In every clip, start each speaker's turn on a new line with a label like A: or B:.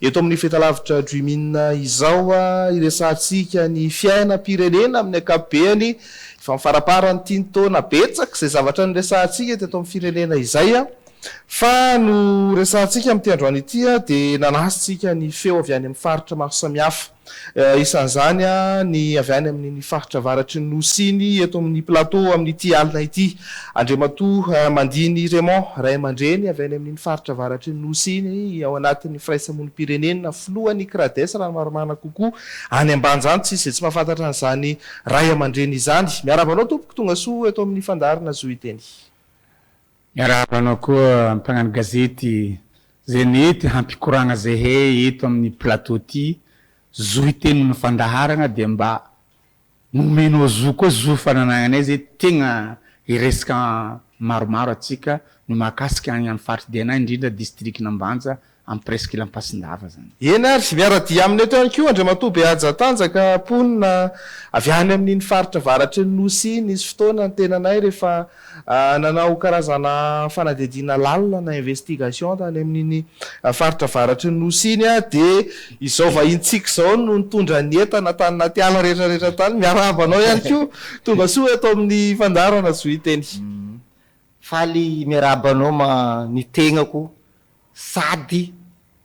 A: Eto amin'ny Fetalavitra Dream In izao, iresahantsika ny fiainam-pirenena amin'ny ankapobeany. Efa amin'ny faramparan'ity ny taona, betsaka izay zavatra niresahantsika teto amin'ny firenena izay. Fa noresahantsika amin'ity androany ity dia nanasintsika ny feo avy any amin'ny faritra maro samihafa. isan'izany ny avy any amin'ny faritra avaratry ny Nosy iny eto amin'ny Plateau amin'ity alina ity. Andriamatoa Mandiny Raymond, ray aman-dreny avy any amin'iny faritra avaratry ny Nosy iny ao anatin'ny firaisamonim-pirenena, filohan'ny Crades raha ny marimarina kokoa, any Ambanja, tsy misy izay tsy mahafantatra an'izany ray aman-dreny izany. Miarahaba anao tompoko, tongasoa eto amin'ny fandaharana Zohiteny.
B: Miarahaba anao koa mpagnano gazety Zenith hampikoragna zehe eto amin'ny plateau ty zo hiteny amin'ny fandaharagna dia mba nomenao zo koa zo fananagnanay ze tegna hiresaka maromaro atsika no mahakasika agny amin'ny faritry Dna indrindra district an'Ambanja amin'ny presqu'île Ampasindava izany. Eny ary, miara-dia
A: aminy eto ihany koa Andriamatoa Behajatanjaka mponina avy any amin'iny faritra avaratry ny Nosy iny. Nisy fotoana ny tenanay rehefa nanao karazana fanadihadiana lalina na investigation tany amin'iny faritra avaratry ny Nosy iny dia izao vahintsika izao no nitondra ny entana tany anaty ala rehetrarehetra tany. Miarahaba anao ihany koa. Tongasoa eto amin'ny fandaharana Zohiteny.
C: Faly miarahaba anao ma ny tegnako sady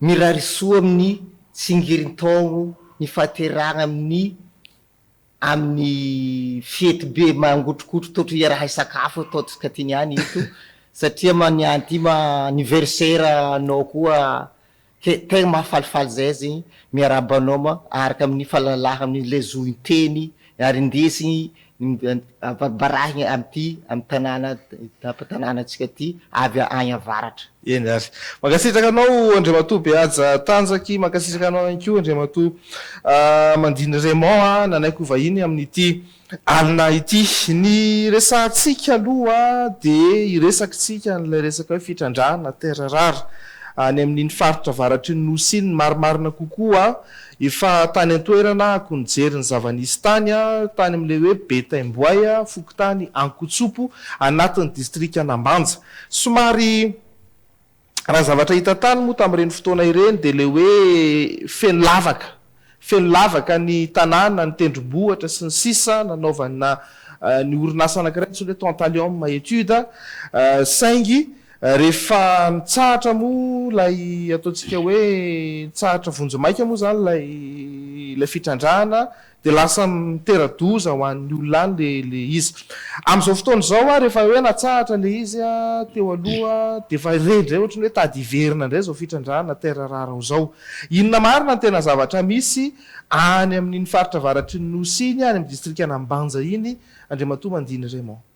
C: mirary soa amin'ny tsingerin-taogno nifaterahagna amin'ny amin'ny fety be mangotrokotro toetry iaraha sakafo ataontsika ty niany eto satria ma niany ty ma anniversaire anao koa ke tegna mahafalifaly zay zegny miarahaba anao ma araka amin'ny falalahagna amin'ny le zohin-teny Ary indesy ambarahina amin'ity amin'ny tanàna tanànantsika ity avy any avaratra. Eny ary.
A: Mankasitraka anao Andriamatoa Behaja Tanjaky, mankasitraka anao ihany koa Andriamatoa Mandiny Raymond a, nanaiky ho vahiny amin'ity alina ity. Ny resahantsika aloha dia hiresakitsika an'ilay resaka hoe fitrandrahana terres rares any amin'iny faritra avaratry ny Nosy iny, ny marimarina kokoa Efa tany an-toerana ako nijery ny zava-nisy tany aho, tany amin'ilay hoe Betaimboay, fokontany Ankotsopo, anatin'ny distrikan'Ambanja. Somary raha zavatra hita tany moa tamin'ireny fotoana ireny dia ilay hoe feno lavaka, feno lavaka ny tanàna, ny tendrombohitra sy ny sisa nanaovana ny orinasa anankiray antsoina hoe Tantalium Etudes, saingy Rehefa mitsahatra moa ilay ataontsika hoe mitsahatra vonjimaika moa izany ilay ilay fitrandrahana dia lasa mitera-doza ho an'ny olona any ilay ilay izy. Amin'izao fotoana izao ary efa hoe natsahatra ilay izy teo aloha dia efa re indray ohatry ny hoe tady hiverina indray izao fitrandrahana terre rare izao. Inona marina ny tena zavatra misy any amin'iny faritra avaratry ny Nosy iny, any amin'ny distrikan'Ambanja iny, Andriamatoa Mandiny Raymond?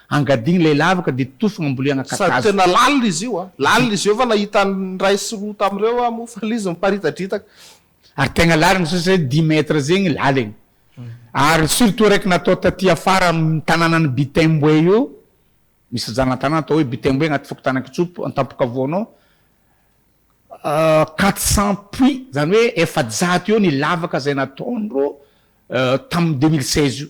B: Angadihy ilay lavaka dia tofigna ambolena kakazo. Sady tena lalina
A: izy io
B: a!
A: Lalina izy io fa nahita an'ny iray sy roa tamin'ireo aho moa fa ilay izy miparitadritaka. Ary tegna
B: lalina satria zay dix mètres zegny laliny. Ary surtout araiky natao taty afara amin'ny tananan'i Bitemboe io, misy zana-tanàna atao hoe Bitemboe agnaty fokontanan-Kitsopo Antampokavoana ao, quatre cent puits, zany hoe efajato eo ny lavaka zay nataondrô tamin'ny deux mille seize io.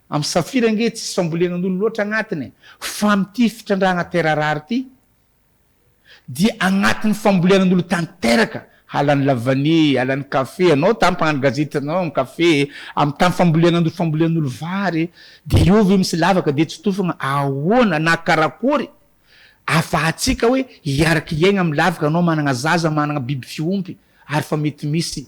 B: Am safira ange tsisy fambolenan'olo loatra agnatiny e! Fa amty fitrandrahana terre rare ty dia agnatiny fambolenan'olo tanteraka, halan'ny lavanie, halan'ny café, anao tam mpagnano gazety anao am café e, am tam fambolenan'olo fambolenan'olo vary e, dia eo ve misy lavaka dia tsy tofagna, ahoana na karakory afahatsika hoe hiaraka hiaigna am lavaka anao managna zaza managna biby fiompy ary fa mety misy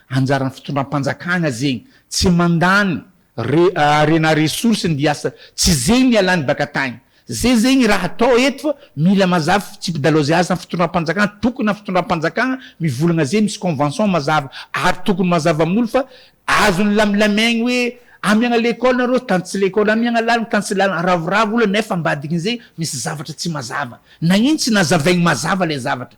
B: Anjaran'ny fitondram-panjakana zegny tsy mandany arena ressource ny mbiasa tsy zegny ny ialany baka tagny zay zegny raha atao eto fa mila mazava fitsipidalaozy azy amin'ny fitondram-panjakana tokony amin'ny fitondram-panjakana mivolagna zay misy convention mazava ary tokony mazava amin'olo fa azony lamilamegny hoe amiagna lekôly nareo tany tsy lekôly amiagna lalana tany tsy lalana ravoravo olo nefa ambadikin'izay misy zavatra tsy mazava nagnino tsy nazavaigny mazava lay zavatra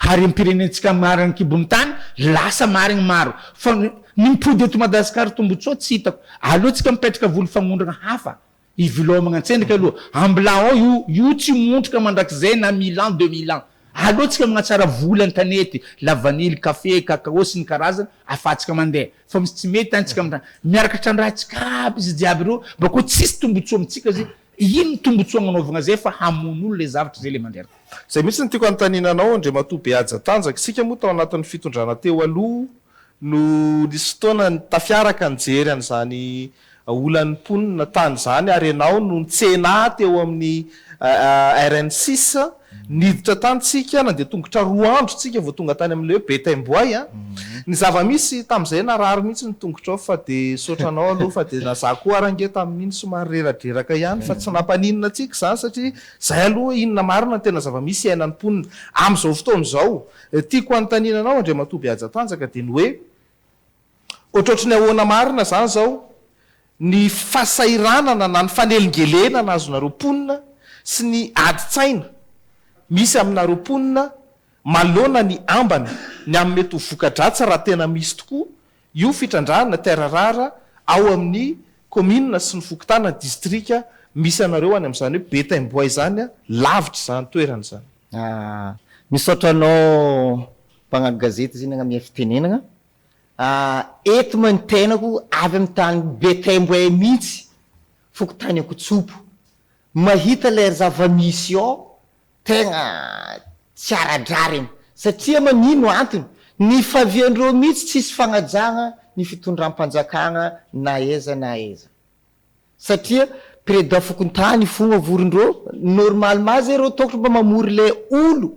B: Ary ny mpirenentsika marigny kibon'ny tany lasa marigny maro fa ny mipody eto Madagascar tombotsoa tsy hitako aleo tsika mipetraka voly fagnondrana hafa hivilaomagna an-tsendriky aloha ambla ao io io tsy montrika mandrakizay na mille ans deux mille ans aleo tsika magnatsara voly an-tanety la vanille café cacao sy ny karazany afatsika mandeha fa misy tsy mety an tsika miaraka trandrahantsika aby izy jiaby reo bakeo tsisy tombotsoa amintsika zay Ino tombotsoa agnanaovagna zay fa hamono olona le zavatra zay le mandreraka. Zay mihitsy no tiako
A: hanontaniana anao Andriamatoa Behaja Tanjaka, isika moa tao anatin'ny fitondrana teo aloha no nisy fotoana tafiaraka nijery an'izany olan'ny mponina tany izany ary ianao no nitsena ahy teo amin'ny RN six Niditra tany tsika, nandeha tongotra roa andro tsika vao tonga tany amin'ilay hoe Betaimboay a. Ny zava-misy, tamin'izay narary mihitsy ny tongotrao fa dia nisaotra anao aloha fa dia na za koa ary ange tamin'iny somary reradreraka ihany fa tsy nampaninona antsika izany satria izay aloha inona marina ny tena zava-misy iainan'ny mponina amin'izao fotoana izao. Tiako hanontaniana anao Andriamatoa Behajatanjaka dia ny hoe, Ohatrohatry ny ahoana marina izany izao ny fahasahiranana na ny fanelingelenana azonareo mponina sy ny adin-tsaina misy aminareo mponina maloana ny ambany ny amin'ny mety ho voka-dratsy raha tena misy tokoa io fitrandrahana terre rare ao amin'ny kaominina sy ny fokontana, distrika misy anareo any amin'izany hoe Betaimboay izany an, lavitra izany toerana izany. Ah,
C: misaotra anao mpagnano gazety Zinagna miha fitenenagna. Ahh eto ma ny tenako avy amin'ny tany Betemboay mihitsy, fokontany Ankotsopo. Mahita ilay ry zava-misy ao tegna tsy ara-drariny satria man ino antony? Ny faviandreo mihitsy tsisy fagnajagna ny fitondram-panjakagna na aiza na aiza satria president fokontany fogna vorondreo, normalement zay reo tokony mba mamory le olo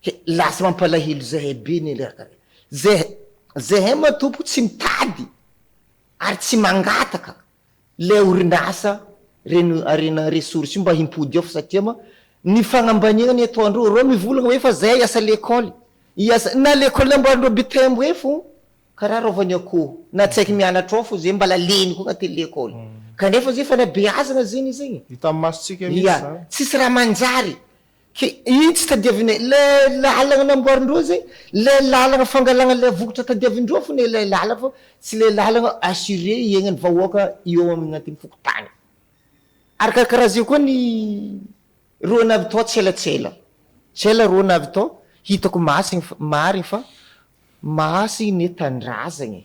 C: He, lasa mampalahelo zahay be ny alerte re. Zeh, zahay matompoko tsy mitady ary tsy mangataka ilay orinasa Reno Arena Ressources io mba himpody ao fa satria ma ny fagnambaniagna ny ataondreo, ireo mivolagna hoe fa zahay hiasa lekôly, hiasa, na lekôly namboarindreo Butembo eo fô karaha rôvany akoho, na tsy haiky mianatra ao fô zay mbala leny koa agnatin'ny lekôly, kanefa zay fanabeazagna zegny zegny e. Hitan'ny mason-tsika mihitsy
A: zany. Tsisy raha manjary.
C: Ke itsy tadiavina ilay lalana namboarin-droa zay, ilay lalana fangalana ilay vokatra tadiavin-droa fona ilay lalana fa tsy ilay lalana assuré hiaignan'ny vahoaka eo amin'atin'ny fokontany. Ary karakaraha zay koa ny roa navitao tselatsela, tsela roa navitao, hitako masina fa marigny fa masina ny tanindrazagna e.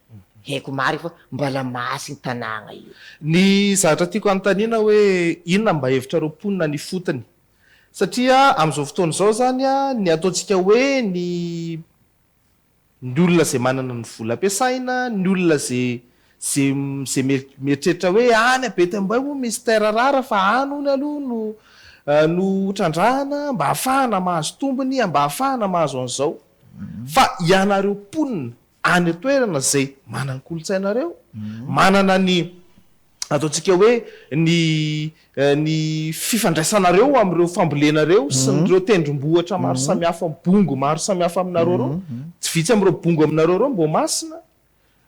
C: Haiko marina fa mbala mahatsy iny tanàgna io. Ny zatra
A: tiako anontaniana hoe inona mba hevitrareo mponina ny ifotony? Satria amin'izao fotoana izao izany ny ataontsika hoe ny ny olona izay manana ny vola ampiasaina, ny olona izay izay izay mieritreritra hoe any a Betambay moa misy terre rare fa any hono aloha no no hotrandrahana mba hahafahana mahazo tombony, mba hahafahana mahazo an'izao. Fa ianareo mponina any an-toerana izay manana ny kolontsainareo, manana ny ataontsika hoe ny ny fifandraisanareo amin'ireo fambolenareo sy ny ireo tendrombohitra maro samihafa, bongo maro samihafa aminareo ireo, tsy vitsy amin'ireo bongo aminareo ireo Ambohimasina,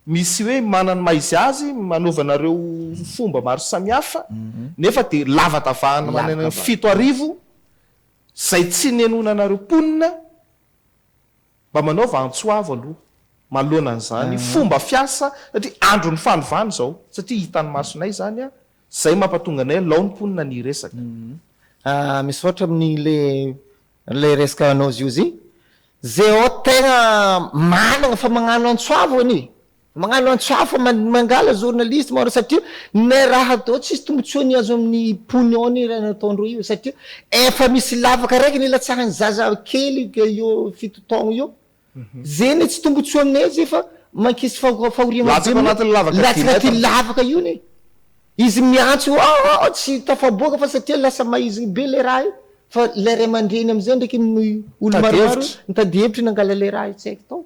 A: misy hoe manana ny maha izy azy, anaovanareo fomba maro samihafa, nefa dia lavadavahana manana ny fito arivo izay tsy nenoina anareo mponina, Mba manaova antso avo aloha maloana an'izany fomba fiasa satria andron'ny fanovana izao satria hitan'ny masonay izany a! Zay mampatonga anay lao ny mponina ny hiresaka.
C: Misaotra amin'ile ilay resaka anao ziozy. Zay ao tegna managna fa magnano antso avo anie. Magnano antsy hafa mangala journaliste maro satria ne raha atao tsisy tombotsoany azo aminy pognon ny raha nataondreo io satria efa misy lavaka raiky nilatsahany zaza kely eo fito taogno eo ze ne tsy tombotsoa amine ze fa mankisy fahoriana latsaka anatiny lavaka ty latsaka ty lavaka io ne izy miantso io aah tsy tafaboaka fa satria lasa maizigny be le raha io fa le ray amandreny amizay ndraiky ny olo maromaro mitady hevitry nangala le raha io tsy aiko tao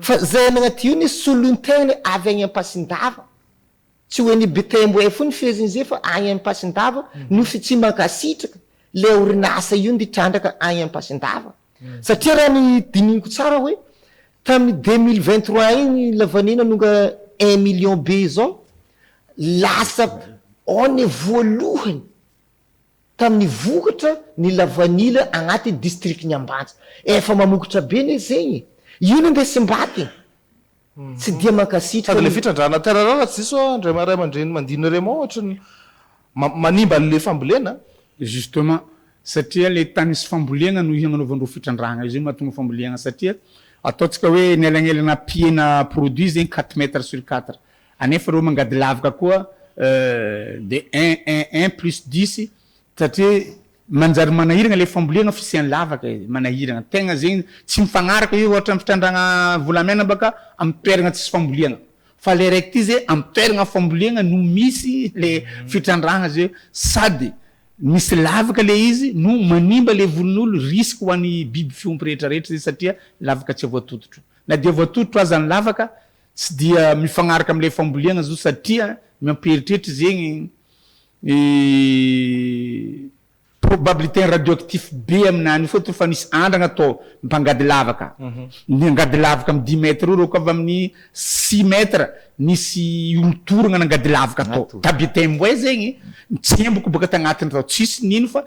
C: Fa zay any agnaty io ne solon-teny avy agny Ampasindava. Tsy hoe ny Betembo info ny feheziny zay fa agny Ampasindava Nosy tsy mankasitraka le orinasa io ndy trandraka agny Ampasindava. Satria raha ny dinihiko tsara hoe tamin'ny deux mille vingt trois igny lavanio nanonga un million be zao lasa one voalohany. Tamin'ny vokatra ny lavanila agnatin'ny distrikan'i Ambanja. Efa mamokotra be ne zegny e! Io no ndesim-bato e!
A: Tsy dia
C: mankasitraka
A: ny. Sady le fitrandrahana terre rare tsy
C: diso
A: aho ndray maha ray aman-dreny mandinina rey moa ohatry
C: ny
A: manimba an'le fambolena a! Justement,
B: satria le tany sy fambolena no hiagnanaovandreo fitrandrahana io zay mahatonga fambolena satria ataontsika hoe ny elagnelana ampihena produit zegny quatre mètres sur quatre Anefa ireo mangady lavaka koa de un un un plus dix satria manjary manahirana ilay fambolena fisian'ny lavaka e, manahirana tegna zegny tsy mifagnaraka io ohatra ny fitrandrahana volamena baka amin'ny toerana tsisy fambolena fa le raiky ty ze amin'ny toerana fambolena no misy le fitrandrahana ze sady misy lavaka le izy no manimba le volon'olo risque ho an'ny biby fiompy rehetra rehetra zay satria lavaka tsy voatototro na dia voatototro aza ny lavaka Tsy dia mifagnaraka amin'ilay fambolena zao satria ny mampieritreritra zegny ny probabilité-ny radioactif be aminà an'io fôtony fa nisy andragna tô mpangady lavaka niangady lavaka amin'ny dix mètres eo reo ka avy amin'ny six mètres nisy olo-toragna nangady lavaka tô tabitain-boay zegny tsemboky boaka tagnatigny tao tsisy nino fa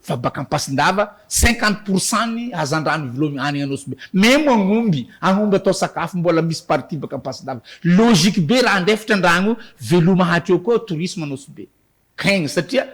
B: Fa baka ampasin-dava cinquante pour cent ny hazandrano ivologny any Anosibe. Mais moa gny omby, aomby atao sakafo mbola misy partie baka ampasin-dava. Logique be raha andefitra andragno veloma hatreo koa tourisme Anosibe. Keng satria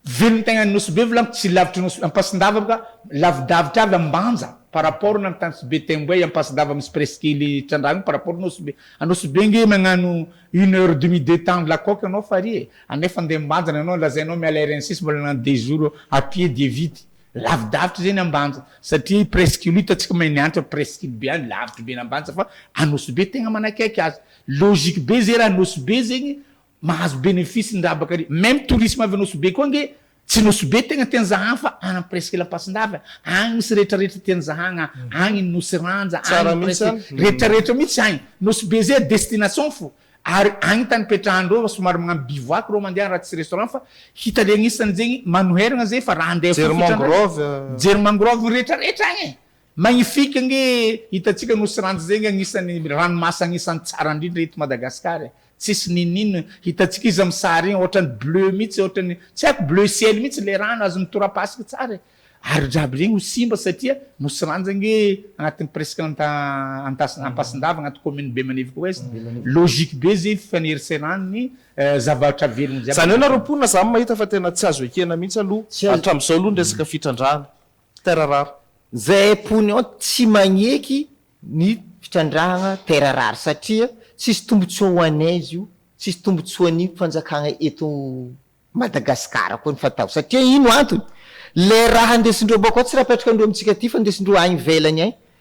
B: velon-tegna any Nosibe volagny tsy lavitry Nosy, ampasin-dava baka lavidavitra avy Ambanja par rapport na Antanisibe, Temboay, ampasin-dava misy presque ely trandragno par rapport Nosibe. Anosibe nge magnano Une heure demi deux temps la coque ianao farihy e! anefa andeha ambanja ianao lazainao miala ary any sisa mbola nany deux jours à pied dia vita, lavidavitra izay ny ambanja satria presqu'île io tsy mahay niantra presqu'île be any lavitra be ny ambanja fa anosibe tegna manakaiky azy, logique be zay raha anosibe zegny mahazo bénéfice ny rabaka ary meme tourisme avy anosibe koa ange Tsy nosy be tegna teny Zahagna fa any am presque Lampasindahy agny misy rehetra rehetra teny Zahagna agny ny nosy Ranja agny presque rehetra rehetra mitsy agny nosy be zay destination fo ary agny tany ipetrahan reo somary magnano bivouac reo mandeha raha tsy restaurant fa hita legnisany zegny manoheragna zay fa raha andeha fo fetra andragny mijery mangrove rehetra rehetra agny e Magnifique nge hitantsika Nosy Ranjy zegny agnisan'ny ranomasina agnisan'ny tsara indrindra eto Madagascar e! Tsisy n'inon'inona hitantsika izy amin'ny sary igny ohatrany bleu mitsy ohatrany tsy haiko bleu ciel mitsy le rano azon'ny torapasika tsara e! Ary jiaby regny ho simba satria Nosy Ranjy ange agnatin'ny presque Anta Antas Ampasindava agnaty commune Bemanivoka Ouest logique be ze fifaneriseran'ny zavatra velogno jiaby Zany hoe nareo mponina samy
A: mahita fa tena tsy azo ekena mihitsy aloha hatramizao aloha ny resaka fitrandrahana. Terre rare. Zay mpony
C: ao tsy magneky ny fitrandrahagna terre rare satria tsisy tombotsoa ho anay izy io, tsisy tombotsoa ny fanjakagna eto Madagascar koa ny fatao satria ino antony le raha ndesindreo bako ao tsy raha apetraka ndreo amitsika aty fa ndesindreo any ivelany any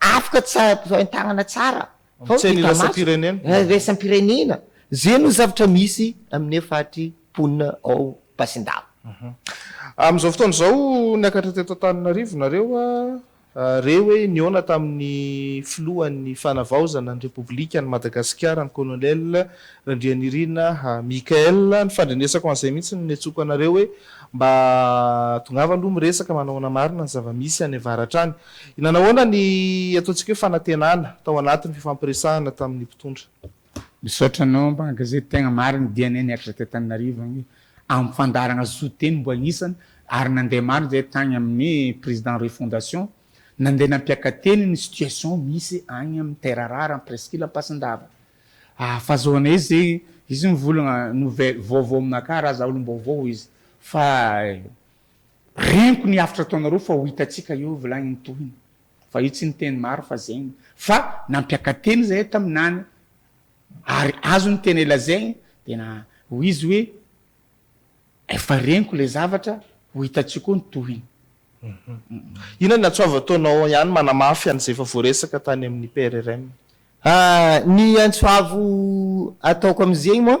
C: Afaka tsy hain-tanana tsara fa tsy hainy iraisam-pirenena. Iraisam-pirenena. Izay no zavatra misy amin'io faritry mponina ao Basindava.
A: Amin'izao fotoana izao niakatra teto Antananarivo nareo re hoe nihaona tamin'ny filohan'ny Fanavaozana ny Repoblikan'i Madagasikara ny Colonel Randrianirina Michael. Ny fandrenesako an'izay mihitsy no niantsoako anareo hoe mba tongava aloha miresaka manahoana marina ny zava-misy any avaratra any. Nanahoana ny ataontsika hoe fanantenana tao anatin'ny fifampiresahana tamin'ny mpitondra? Misaotra
B: anao Mbanga zay tegna marigny dianay niakatra teo Tananarivo agny am fandaharagna zo teny mbo agnisany ary nande maro zay tagny aminy Président Roy Fondation nande nampiaka teny ny situation misy agny am Terre Rare am Presqu'île Ampasindava ah fazahoanay izy zay izy mivolagna nouvelle vaovao aminakahy raha za olom-baovao hoy izy fa Reniko ny haftra ataonareo fa ho hitantsika eo vla ny tohiny fa io tsy niteny maro fa zegny fa nampiakateny zahay taminany ary azo ny tena ilazegny de na ho izy hoe efa reniko le zavatra ho hitantsika eo ny tohiny.
A: Inona ny antso avy ataonao ihany manamafy an'izay efa voaresaka tany amin'ny PRRM?
C: Ny antso avo ataoko amin'izegny moa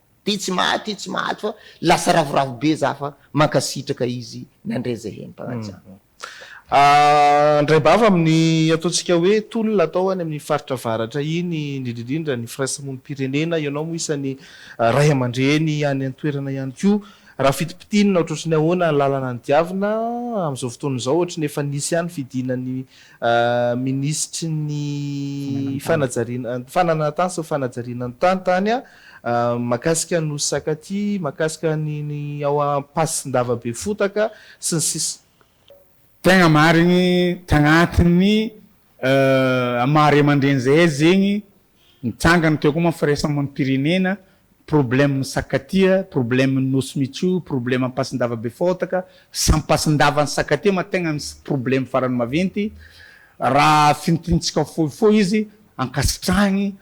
C: Ty tsy maty ty tsy maty fa lasa ravoravo be za fa mankasitraka izy nandray zay hentam-panajanana.
A: Andraibava amin'ny ataontsika hoe tolona atao any amin'ny faritra avaratra iny indrindra indrindra ny firaismonim-pirenena, ianao moa isan'ny ray aman-dreny any an-toerana ihany koa, raha fitipitinina ohatrohatry ny ahoana ny lalana nidiavina amin'izao fotoana izao ohatry ny efa nisy ihany fidiana ny minisitry ny fanajariana ny fananantany sy ny fanajariana ny tany tany an. Mahakasika ny Nosy Sakati, mahakasika ny ny ao Ampasin-dava be fotaka sy ny sisa. Tegna
B: marigny tagnatin'ny maha ray aman-dreny zahay zegny mitsangana teo koa manko firaisamonim-pirenena, problème ny sakatia, problème ny nosy michou, problème ampasin-dava be fotaka, sy ampasin-dava ny sakatia ma tegna misy problème farany maventy, raha fintintsika fohifohy izy ankasitrahigny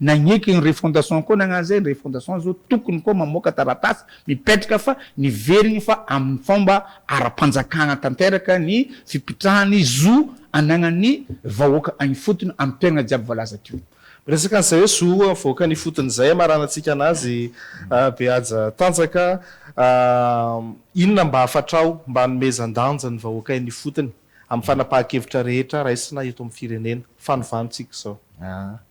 B: Nagneky ny refondation koa nagnano zay, ny refondation zao tokony koa mamoaka taratasy mipetraka fa niverigny fa aminy fomba ara-panjakana tanteraka ny fipitrahany zo anagnany vahoaka agny ifotony amy toerana jiaby voalaza teo. Miresaka an'izay hoe zo
A: vahoaka any ifotony izay hamaranantsika anazy be haja tanjaka inona mba hafatrao mba hanomezan-danja ny vahoaka eny ifotony amin'ny fanapahan-kevitra rehetra raisina eto amin'ny firenena, fanovàntsika izao.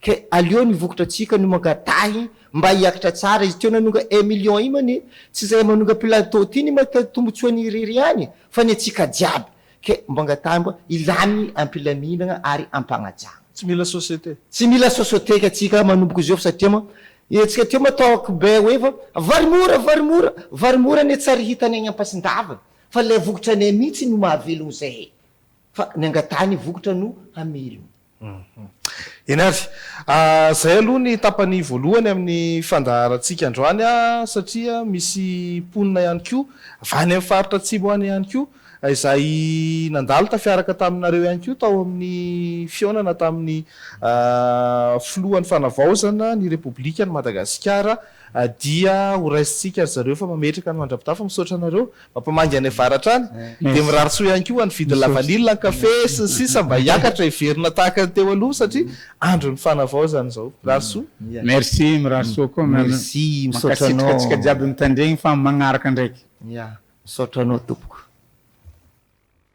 C: Ka aleo ny vokatra antsika no mangatahy mba hiakatra tsara izy teo nanonga un million io man e tsy zay manonga plateau ity ny mahita tombotsoany irery ihany fa ny antsika jiaby ka mba angatahy mba hilany ampilaminana ary ampanajana. Tsy mila société. Tsy
A: mila
C: société ka tsika manomboka
A: izao fa
C: satria man e tsika teo man tao akobay hoe efa vary mora vary mora vary mora anie tsary hitany any ampasindava fa ilay vokatra anay mihitsy no mahavelona izay e fa ny angatahy ny vokatra no hamelona
A: Eny ary. Izay aloha ny tapany voalohany amin'ny fandaharantsika androany satria misy mponina ihany koa avy any amin'ny faritra atsimo any ihany koa izay nandalo tafiaraka taminareo ihany koa tao amin'ny fihaonana tamin'ny filohan'ny fanavaozana ny repoblikan'i Madagasikara dia horaisintsika ry zareo fa mametraka ny mandra-pitafy misaotra anareo Mampamangy any avaratra any. Dia mirary soa ihany koa ho an'ny vidin'ny lavanila, ny kafe sy ny sisa mba hiakatra hiverina tahaka ny teo aloha satria andron'ny fanavaozana izao. Mirary soa. Merci, mirary
B: soa koa Mme. Merci, misaotra anao. Mankasitraka
C: antsika jiaby mitandregny
B: fa magnaraka ndraiky. Ya, misaotra
C: anao tompoko.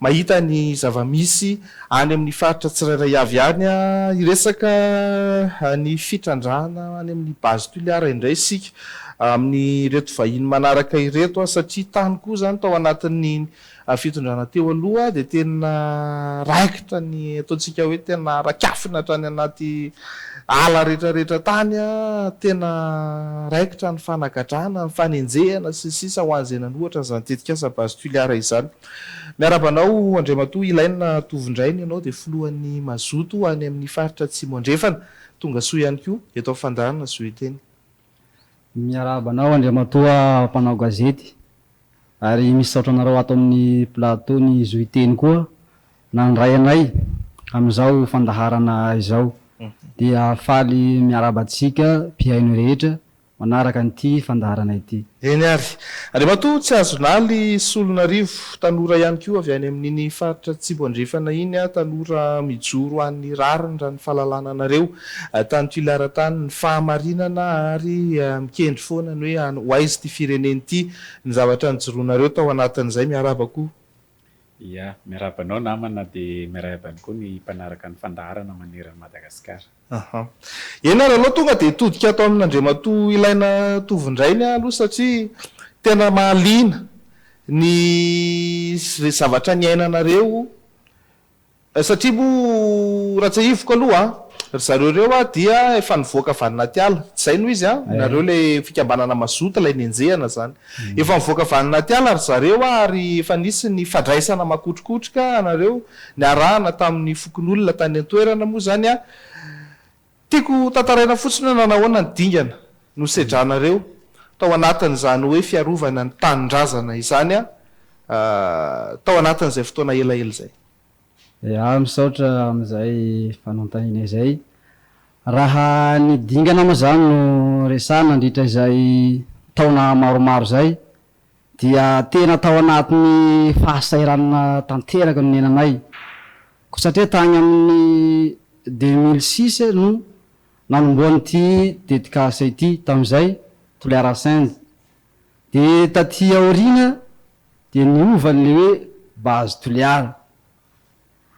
A: Mahita ny zava-misy any amin'ny faritra tsirairay avy any hiresaka ny fitrandrahana any amin'ny Base Toliara indray isika amin'ireto vahiny manaraka ireto satria tany koa izany tao anatin'ny fitondrana teo aloha dia tena raikitra ny ataontsika hoe tena rakafina hatrany anaty ala rehetra rehetra tany tena raikitra ny fanagadrana, ny fanenjehana sy ny sisa ho an'izay nanohatra an'izany tetikasa Base Toliara izany. Miarahaba anao Andriamatoa Ilaina Tovondrainy ianao dia filohan'ny Mazoto any amin'ny faritra Atsimo Andrefana. Tonga soa ihany koa eto amin'ny fandaharana Zoeteny.
D: Miarahaba anao Andriamatoa mpanao gazety ary misaotra anareo ato amin'ny plateau ny Zoeteny koa nandray anay amin'izao fandaharana izao dia faly miarahaba antsika mpihaino rehetra manaraka an'ity fandaharana ity. Eny ary.
A: Andriamatoa Tsiazonaly Solonarivo, tanora ihany koa avy any amin'iny faritra Atsimo Andrefana iny aho, tanora mijoro an'ny rariny raha ny fahalalana anareo tany Toliara tany, ny fahamarinana ary mikendry foana ny hoe any ho aiza ity firenena ity, ny zavatra nijoroanareo tao anatin'izay. Miarahaba koa. Ia,
E: miarahaba anao namana dia miarahaba ihany koa ny mpanaraka ny fandaharana maneran'i Madagasikara. Aha.
A: Eny ary alao tonga dia hitodika ato amin' Andriamatoa Ilaina Tovondrainy aho aloha satria tena mahaliana ny zavatra niainanareo satria moa raha tsiahiviko aloha ry zareo ireo aho dia efa nivoaka avy any anaty ala, tsy izay no izy an? nareo ilay fikambanana mazoto ilay nenjehana izany. Efa nivoaka avy any anaty ala ry zareo ary efa nisy ny fandraisana makotrokotroka anareo. Niarahana tamin'ny fokonolona tany an-toerana moa izany aho. Tiako ho tantaraina fotsiny hoe nanahoana ny dingana nosedranareo tao anatin'izany hoe fiarovana ny tanindrazana izany tao anatin'izay fotoana elaela izay. Iah
D: misaotra amin'izay fanontaniana izay. Raha ny dingana moa izany no resahana nandritra izay taona maromaro izay dia tena tao anatin'ny fahasahiranana tanteraka no niainanay, koa satria tany amin'ny deux mille six no nanombohan'ity tetikasa ity, tamin'izay Toliara Send, dia taty aoriana dia niova an'ilay hoe Base Toliara,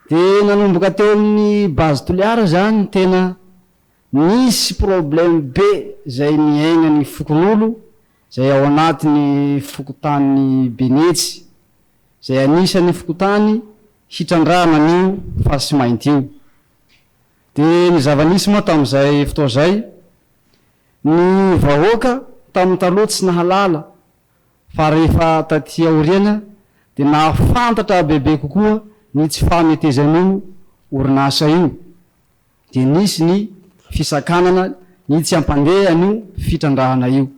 D: dia nanomboka teo amin'ny Base Toliara izany tena nisy problème be izay niainan'ny fokonolona izay ao anatin'ny fokontany Benetsy, izay anisan'ny fokontany hitrandrahana an'io fasy mainty io. Dia ny zava-nisy moa tamin'izay fotoana izay, ny vahoaka tamin'ny taloha tsy nahalala, fa rehefa taty aoriana dia nahafantatra bebe kokoa ny tsy fametezan'io orinasa io. dia nisy ny fisakanana ny tsy hampandeha an'io fitrandrahana io.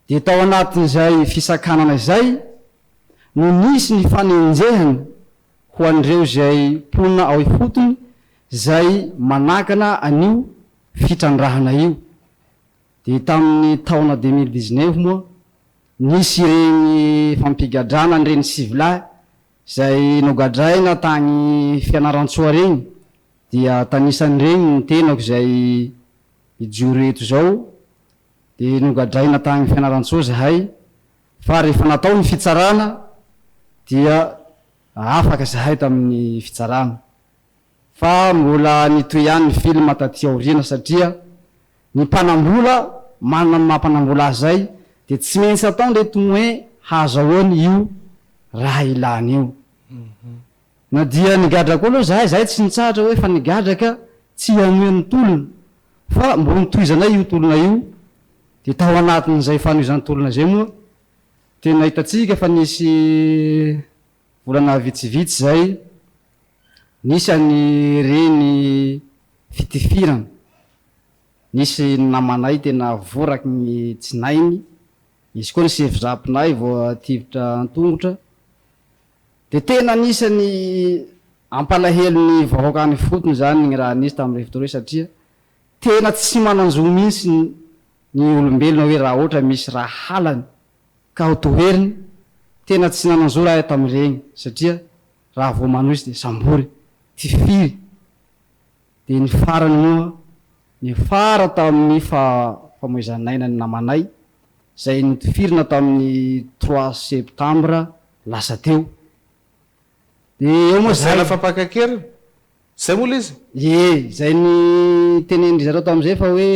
D: Dia tao anatin'izay fisakanana izay no nisy ny fanenjehana ho an'ireo izay mponina ao ifotony izay manakana an'io fitrandrahana io. Dia tamin'ny taona deux mille dix neuf moa nisy ireny fampigadrana an'ireny sivilahy izay nogadraina tany Fianarantsoa ireny Dia tanisan'ireny ny tenako izay hijoro eto izao, dia nogadraina tany Fianarantsoa izahay, fa rehefa natao ny fitsarana dia afaka izahay tamin'ny fitsarana, fa mbola nitohy ihany ny film taty aoriana satria ny mpanambola manana ny maha mpanambola azy izay dia tsy maintsy atao ny hoe hahazahoany io raha ilany io. Na dia nigadra koa aloha izahay, izahay tsy nitsahatra hoe efa nigadra ka tsy hanohy ny tolona, fa mbola notohizanay io tolona io, dia tao anatin'izay fanohizan-tolona izay moa dia nahitantsika fa nisy volana vitsivitsy izay nisy an'ireny fitifirana, nisy namanay tena voraky ny tsinainy, nisy koa ny sefo zapinay voatifitra an-tongotra, Dia tena anisan'ny ampalahelo ny vahoaka any ifotony izany ny raha nisy tamin'ireo fotoana ireo satria tena tsy manan-jo mihitsy ny olombelona hoe raha ohatra misy raha halany ka ho toheriny, tena tsy nanan-zo raha tamin'ireny satria raha vao manohy izy dia sambory, tifiry. Dia ny farany moa, niafara tamin'ny faha famoizan'aina ny namanay, izay notifirina tamin'ny trois septembre lasa teo. Dia eo moa izay. Lazaina fa mpaka an-keriny?
A: Izay moa ilay izy? Ie, izay
D: nitenenin-dry zareo tamin'izay fa hoe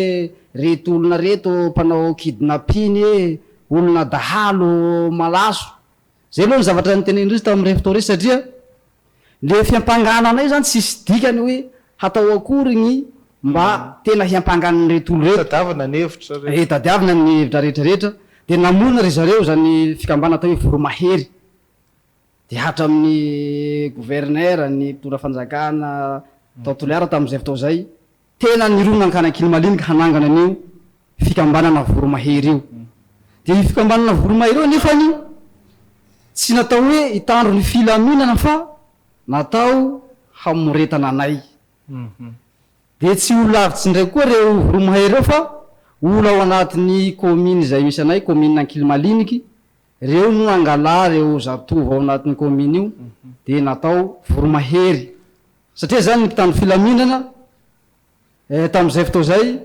D: reto olona reto mpanao kidnapping e, olona dahalo malaso, Zay aloha ny zavatra nitenenin-dRisto tao amin'ny Reftory satria le fiampangana anay zany tsisy dikany hoe hatao akory gny mba tena hiampangana an'reto olo reto. Tadiavina ny hevitra rehetra.
A: Ee, tadiavina ny hevitra
D: rehetra rehetra. Dia namorona ry zareo izany fikambana atao hoe Voromahery. Dia hatramin'ny gouverneur, ny mpitondra fanjakana tao Toliara tamin'izay fotoana izay, Tena nirona Ankanakinimaliniky hanangana an'io fikambanana Voromahery io. Dia io fikambanana Voromahery io anefany tsy natao hoe hitandro ny filaminana fa natao hamoretana anay. Dia tsy ho lavitsy indray koa ireo Voromahery ireo fa olona ao anatin'ny kaominy izay misy anay, kaominina Ankilimaliniky, ireo no nangalà ireo zatovo ao anatin'io kaominy io dia natao Voromahery. Satria izany ny mpitandro filaminana eh, tamin'izay fotoa izay,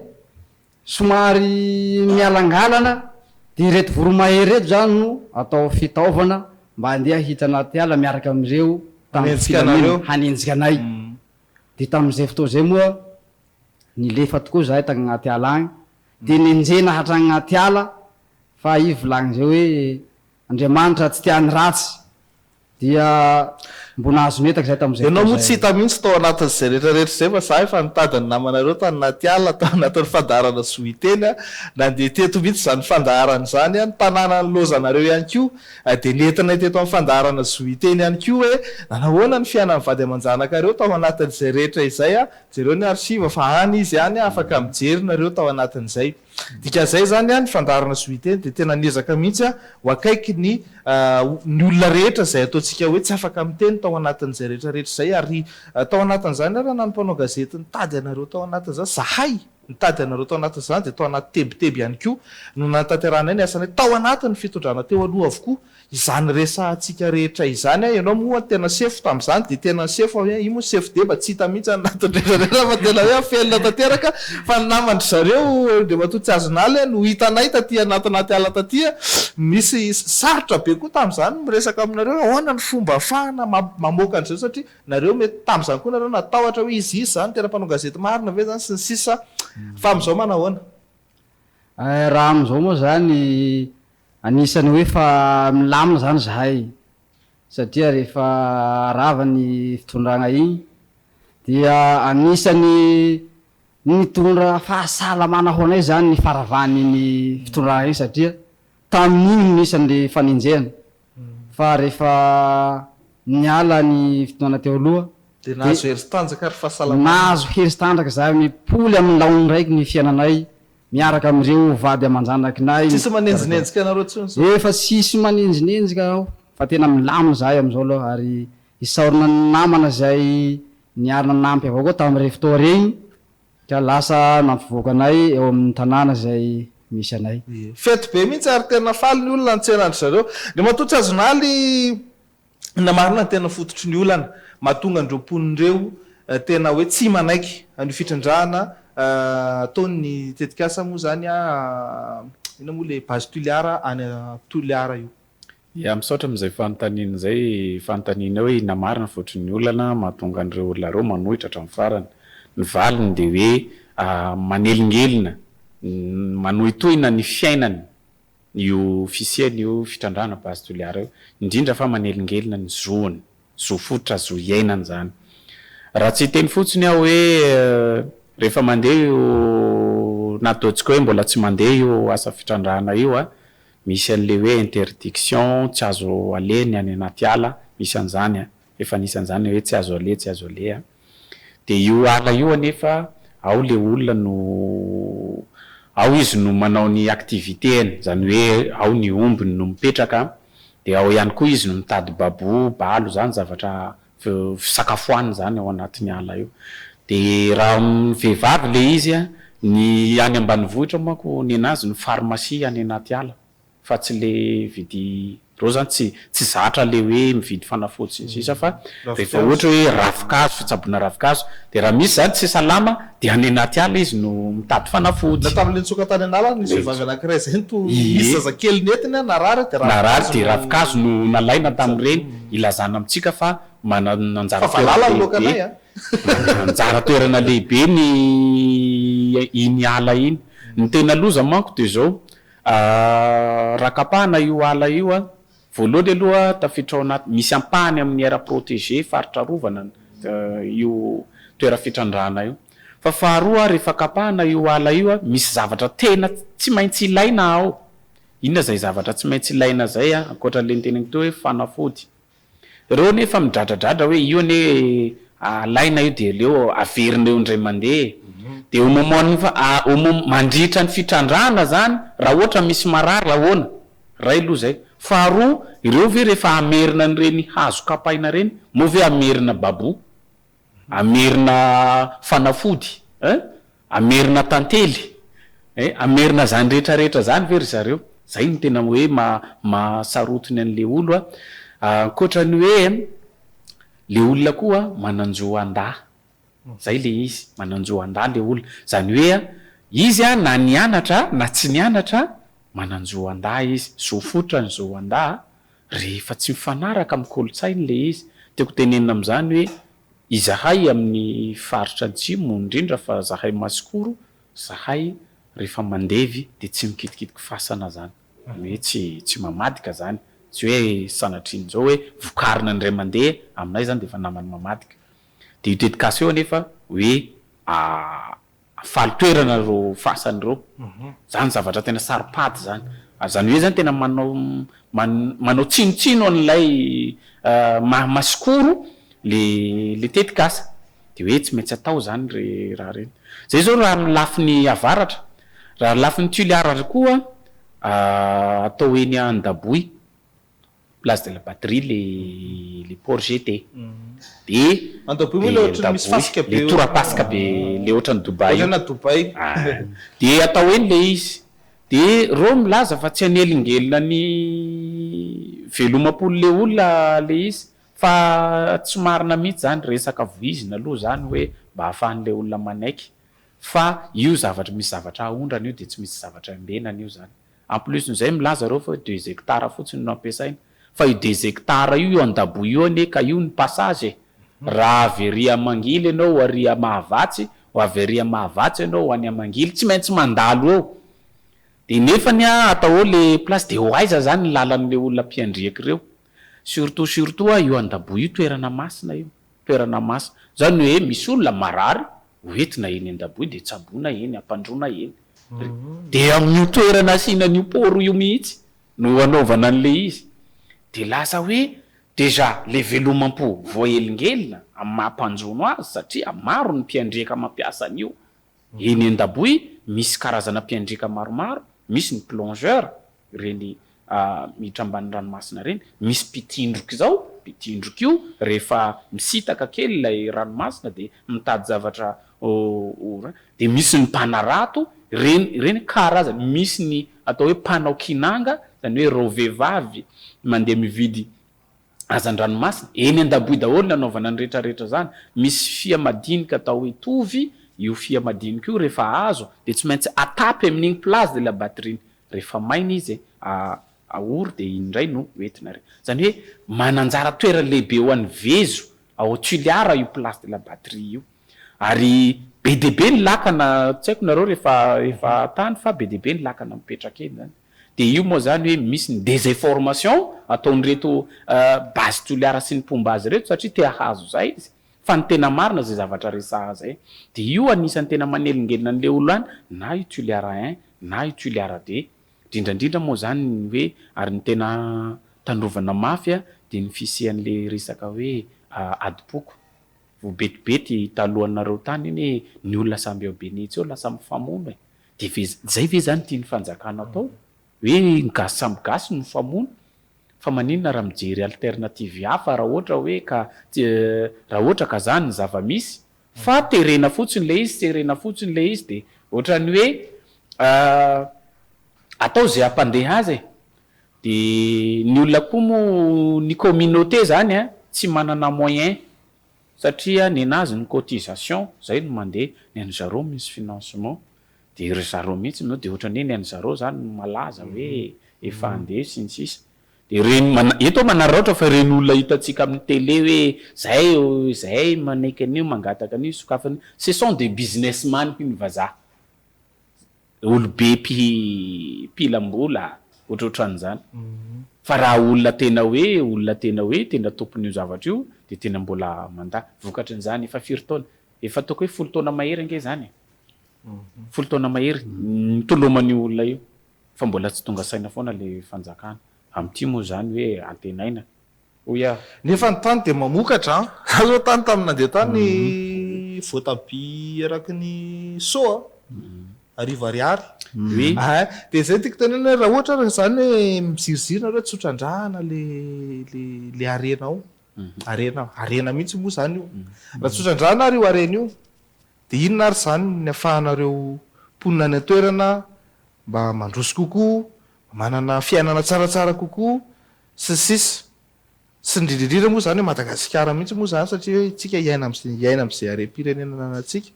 D: somary mialangalana, dia ireto voromahery ireto izany no atao fitaovana mba handeha hiditra anaty ala miaraka amin'ireo mpitandro filaminana, hanenjika anay. Dia tamin'izay fotoa izay moa, nilefa tokoa izahay tany anaty ala any, dia nenjehina hatrany anaty ala, fa i Volagn'izay hoe, Andriamanitra tsy tia ny ratsy. Dia mbo nahazo ny entako izay tamin'izay fotoana izay. Ianao moa tsy hita mihitsy tao
A: anatin'izay rehetra rehetra izay fa za efa nitady ny namanareo tany anaty ala tao anatin'ny fandaharana Zohiteny aho. Nandeha teto mihitsy izany fandaharana izany aho. Ny tanàna nilaozanareo ihany koa dia nentinay teto amin'ny fandaharana Zohiteny ihany koa hoe nanahoana ny fiainan'ny vady aman-janakareo tao anatin'izay rehetra izay. Jereo ny archive fa any izy any afaka mijery nareo tao anatin'izay. Dikan'izay izany, ny fandaharana sy Witeny dia tena niezaka mihitsy ho akaiky ny ny olona rehetra izay ataontsika hoe tsy afaka miteny tao anatin'izay rehetrarehetra izay ary tao anatin'izany ary na ny mpanao gazety nitady anareo tao anatin'izany, izahay nitady anareo tao anatin'izany dia tao anaty tebiteby ihany koa no nanatanterahana ny asanay tao anatin'ny fitondrana teo aloha avokoa Izany resahantsika rehetra izany an, ianao moa tena sefo tamin'izany dia tena ny sefo aho an, io moa sefo deba tsy hita mihitsy any anatiny rehetrarehetra fa tena hoe afelina tanteraka fa ny naman-dry zareo Andriamatoa Tsiazonaly an no hitanay taty anatinaty ala taty an, nisy sarotra be koa tamin'izany ny miresaka aminareo hoe ahoana ny fomba ahafahana mamoaka an'izao satria nareo mety tamin'izany koa nareo natahotra hoe izy izy izany tena mpanao gazety marina ve izany sy ny sisa fa amin'izao manahoana?
D: Raha amin'izao moa izany, anisan'ny hoe efa milamina izany izahay, satria rehefa rava ny fitondrana iny dia anisan'ny nitondra fahasalamana ho anay izany ny faravan'iny fitondrana iny satria tamin'iny no nisy an'ilay fanenjehana fa rehefa niala ny fotoana teo aloha dia nahazo herin-tanjaka
A: ary fahasalamana. Nahazo herin-tanjaka
D: izahay amin'ny poly amin'ny laoniny raiky ny fiainanay miaraka amin'ireo vady aman-janakinay. Tsisy manenjinenjika
A: anareo intsony izao? Efa tsisy
D: manenjinenjika aho fa tena milamina izahay amin'izao aloha ary isaorana ny namana izay niary nanampy avao koa tamin'ireny fotoana ireny Ka lasa nampivoaka anay eo amin'ny tanàna izay misy anay. Fety be mihitsy
A: ary tena faly ny olona nitsena an-dry zareo. Ny matoa tsy azonà aloha inona marina no tena fototry ny olana mahatonga an'ireo mponina ireo tena hoe tsy manaiky an'io fitrandrahana ataony ny tetikasa moa izany inona moa ilay base Toliara any Toliara io. Ya
E: misaotra amin'izay fanontaniana izay, fanontaniana hoe inona marina ny vokatry ny olana mahatonga an'ireo olona ireo manohitra hatramin'ny farany. Ny valiny dia hoe manelingelina, manohitohina ny fiainany io fisiany io fitrandrahana base Toliara io, indrindra fa manelingelina ny zony, zo fototra, zo iainany izany. Raha tsy hiteny fotsiny aho hoe rehefa mandeha io, na ataontsika hoe mbola tsy mandeha io asa fitrandrahana io, Misy an'le hoe interdiction, tsy azo aleha ny any anaty ala, misy an'zany a, efa nisy an'zany hoe tsy azo aleha, tsy azo aleha. De io ala io anefa ao le olona no, ao izy no manao ny activité-ny, zany hoe ao ny ombiny no mipetraka, de ao ihany koa izy no mitady babou, balo, zany zavatra fisakafoanana izany ao anatin'ny ala io. Dia raha amin'ny vehivavy ilay izy, ny any ambanivohitra manko nenazy ny pharmacie any anaty ala fa tsy ilay vidy, ireo izany tsy tsy zatra ilay hoe mividy fanafody sy ny sisa fa rehefa ohatra hoe ravinkazo, fitsaboana ravinkazo, dia raha misy izany tsy salama Dia any anaty ala izy no mitady fanafody. Na tamin'ilay nitsoaka
A: tany
E: an'ala
A: nisy vehivavy anankiray izay no toa nisy zazakely nentina narary dia ravin-kazo no. Narary dia ravin-kazo
E: no nalaina tamin'ireny hilazana amintsika fa manana anjara toerana lehibe. Fa valala ny loakanay a! Manana anjara toerana lehibe ny iny ala iny. Ny tena loza manko dia izao, rakapahana io ala io Voalohany aloha tafiditra ao anaty, misy ampahany amin'ny aire protégée, faritra arovana, io toeram-pitrandrahana io. Fa faharoa, rehefa kapahana io ala io, misy zavatra tena tsy maintsy ilaina ao. Inona izay zavatra tsy maintsy ilaina izay ankoatra an'ilay noteneniko teo hoe fanafody. Ireo anie efa midradradradra hoe io anie alaina io dia aleo averina eo indray mandeha e! Dia au moment-n'ny, au moment, mandritra ny fitrandrahana izany, raha ohatra misy marary, ahoana? Iray aloha izay. Faharoa, ireo ve rehefa hamerina an'ireny hazo kapaina ireny, moa ve hamerina babou? Hamerina fanafody eh? Hamerina tantely eh? Hamerina izany rehetra rehetra izany ve ry zareo? Izay no tena hoe maha-saroty ny an'ilay olo a. Ankoatra ny hoe ilay olona koa manan-jo handà. Zay le izy, mananjo andahy le olona. Zany hoe a, izy a na nianatra a na tsy nianatra a, mananjo andahy izy. Zo fototra ny zo andahy a, rehefa tsy mifanaraka amin'ny kolontsainy le izy. Tiako tenenina amin'izany hoe, izahay amin'ny faritra antsimo indrindra fa zahay masikoro, zahay rehefa mandevy de tsy mikitikitiky fasana zany. Zany hoe tsy tsy mamadika zany. Tsy hoe sanatrian'izao hoe vokarina ny ray aman-deha, aminay zany de efa namany mamadika. Dia io tetikasa io anefa hoe faly toerana ireo fasany ireo. Izany zavatra tena saropady izany. Ary izany hoe izany tena manao manao tsinotsino an'ilay maha masikoro ilay tetikasa. Dia hoe tsy maintsy atao izany ry raha ireny. Izay izao raha amin'ny lafiny avaratra. Raha ny lafiny Toliara ary koa atao eny Andaboy. Place de la Patrie le le port GT de Andohaboy moa le ohatry
A: ny misy fasika be le torapasika be
E: le ohatry ny Dubaï io ohatrana Dubaï de atao eny le izy de reo milaza fa tsy hanelingelina ny velomam-polo le olona le izy fa tsy marina mihitsy zany resaka voizina aloha zany hoe mba hahafahany le olona manaiky fa io zavatra misy zavatra ahondrana io de tsy misy zavatra iambenana io zany En plus n'izay milaza ireo fa hoe deux hectares fotsiny no ampiasaina. Fa io deux hectares io eo andaboho io anie ka io ny passage e! Raha avy ery Amangily ianao ho ary Mahavatsy, ho avy ary Mahavatsy ianao ho any Amangily, tsy maintsy mandalo eo. Dia nefany an, atao eo le place dia ho aiza zany ny lalan'ireo olona mpiandriaka ireo? Surtout surtout an, io andaboho io toerana masina io. toerana masina. Izany hoe misy olona marary, hoentina eny an-daboy dia tsaboina eny, ampandroina eny. Dia amin'io toerana asiana an'io paoro io mihitsy no anaovana an'ilay izy. Dia lasa hoe déjà ilay velomam-po voahelingelina amin'ny maha mpanjono azy satria maro ny mpiandriaka mampiasa an'io Eny an-daboy misy karazana mpiandraika maromaro, misy ny plongeurs, ireny miditra ambanin'ny ranomasina ireny, misy mpitindroka izao, mpitindroka io rehefa misitaka kely ilay ranomasina dia mitady zavatra ho ra, dia misy ny mpanarato, ireny ireny karazana, misy ny atao hoe mpanao kinanga, izany hoe ireo vehivavy mandeha mividy hazan-dranomasina, eny an-daboy daholo ny hanaovana ny rehetra rehetra izany, misy fia madinika atao hoe tovy, io fia madinika io rehefa azo dia tsy maintsy atapy amin'iny plage de la batterie iny, rehefa maina izy aory dia iny indray no hoentina ary, izany hoe mananjara toerana lehibe ho an'ny vezo ao Toliara io plage de la batterie io ary be dia be ny lakana, tsy haiko nareo rehefa efa tany fa be dia be ny lakana mipetraka eny izany. Dia io moa izany hoe misy ny desinformation ataon'ireto Base Toliara sy ny mpomba azy ireto satria te hahazo izay izy fa ny tena marina izay zavatra resahana izay. Dia io anisan'ny tena manelingelina an'i Leolany na i Tuliara I na i Tuliara ii. Indrindra indrindra moa izany ny hoe ary ny tena tandrovana mafy dia ny fisian'ilay resaka hoe adim-poko. Ho betibety talohanareo tany iny hoe ny olona samy ao Beni etsy eo lasa mifamono e! Dia ve izay ve izany tian'ny fanjakana atao? Hoe ny gasy samy gasy no mifamono? Fa maninona raha mijery alternative hafa raha ohatra hoe ka raha ohatra ka izany ny zava-misy? Fa terena fotsiny ilay izy, serena fotsiny ilay izy dia ohatran'ny hoe atao izay hampandeha azy e! Dia ny olona koa moa ny communauté izany tsy manana moyen Satria nenazy ny cotisation zay no mandeha ny an'i zareo misy financement dia ry zareo mihitsy no dia ohatran'ny hoe ny an'i zareo zany no malaza hoe efa andeha sy ny sisa dia ireny eto aho manararaotra fa ireny olona hitantsika amin'ny télé hoe zay zay manaiky an'io mangataka an'io sokafana io ce sont des businessman hoy ny vazaha Olobe mpilam-bola ohatrohatran'izany. Fa raha olona tena hoe olona tena hoe tena tompon'io zavatra io dia tena mbola mandà. Vokatry ny izany efa firy taona? Efa ataoko hoe folo taona mahery ange izany e! Folo taona mahery nitoloman'io olona io fa mbola tsy tonga saina foana ilay fanjakana. Amin'ity moa izany hoe antenaina Oh yeah. Nefa ny tany dia
A: mamokatra an! Za zao tany tamin'ny nandeha tany voatabia eraky ny so a! Arivo ariary. Oui. Ah, dia izay tiako tenenina hoe raha ohatra araka izany hoe miziriziry nareo tsy ho trandrahana le le le harena ao. Harena harena mihitsy moa izany io. Raha tsy ho trandrahana ary io harena io dia inona ary izany ny afahanareo mponina any an-toerana mba mandroso kokoa, manana fiainana tsaratsara kokoa? Sy ny sisa. Tsy indrindrindrindra moa izany hoe Madagasikara mihitsy moa izany satria hoe isika hiaina amin'izay hiaina amin'izay harem-pirenena ananantsika.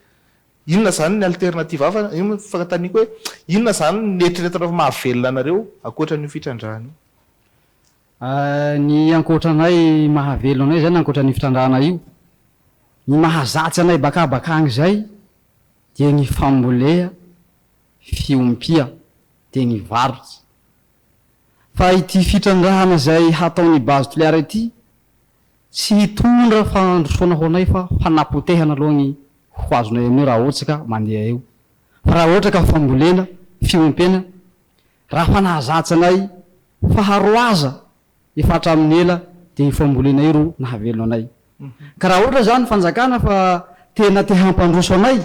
A: Inona izany ny alternative hafa? Io no fanontaniako hoe inona izany no eritreretinareo fa mahavelona anareo ankoatra an'io fitrandrahana io?
D: Ny ankoatra anay mahavelona anay izany ankoatra an'io fitrandrahana io, ny mahazatsy anay baka bakany izay dia ny fambolea, fiompia dia ny varotra. fa ity fitrandrahana izay hataon'ny base Toliara ity tsy hitondra fahandrosoana ho anay fa fanapotehana aloha ny ho azonay amin'io raha ohatra ka mandeha eo fa raha ohatra ka fambolena, fiompena, raha fa nahazatra anay faharoaza efa hatramin'ny ela dia io fambolena io ro nahavelona anay ka raha ohatra izany fanjakana fa tena te hampandroso anay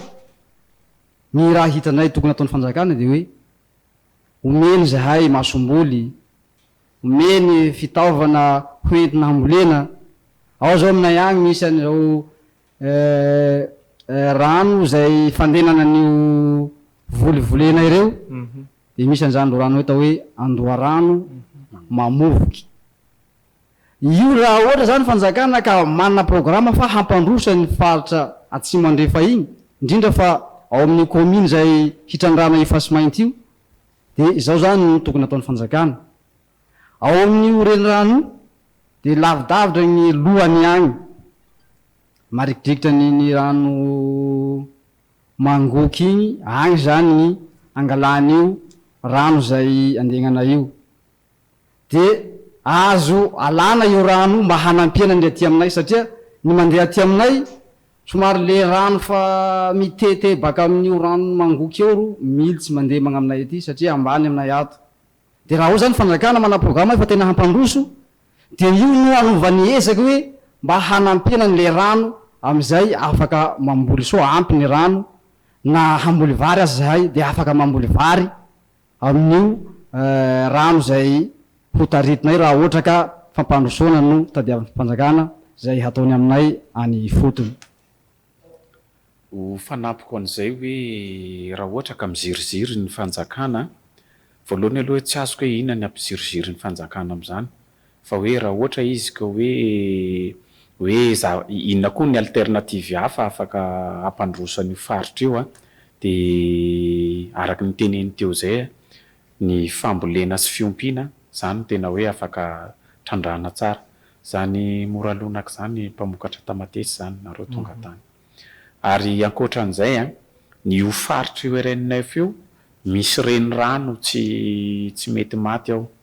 D: ny raha hitanay tokony hataon'ny fanjakana dia hoe Omeny izahay masomboly, omeny fitaovana hoentina hambolena, ao zao aminay agny misy an'izao rano izay fandenana an'io voly volenay reo dia misy an'izany lorano atao hoe andoharano mamovoky. Io raha ohatra zany fanjakana ka manana programa fa hampandroso any faritra atsimo andrefa iny, indrindra fa ao amin'ny commune izay hitrandrahana io fasimainty io dia izao zany no tokony ataon'ny fanjakana, ao amin'io renirano io dia lavidavitra ny lohany any marikidrikitra ny ny rano mangoky iny, any zany ny angalana io rano izay andegnana io. dia azo alana io rano mba hanampiana ny aty aminay satria ny mandeha aty aminay somary le rano fa mitete baka amin'io rano mangoky eo ro mily tsy mandeha magna aminay aty satria ambany aminay ato dia raha ao zany fanjakana manao programa fa tena hampandroso dia io no anovany ezaka hoe mba hanampiana ny le rano amizay afaka mamboly soa ampy ny rano na hamboly vary aza zahay dia afaka mamboly vary amin'io rano izay ho taritinay raha ohatra ka fampandrosoana no tadiavin'ny fanjakana izay hataony aminay any ifotony.
E: Ho fanampiko an'izay hoe raha ohatra ka miziriziry ny fanjakana, voalohany aloha hoe tsy azoko hoe inona ny hampiziriziry ny fanjakana amin'izany Fa hoe raha ohatra izy ka hoe hoe za inona koa ny alternative hafa afaka hampandroso an'io faritra io a! dia araka ny teneny teo izay a! ny fambolena sy fiompiana izany no tena hoe afaka trandrahana tsara izany mora lonaka izany mpamokatra tamatesy izany nareo tonga tany ary ankoatran'izay a! ny io faritr'io RNF io misy renirano tsy tsy mety maty ao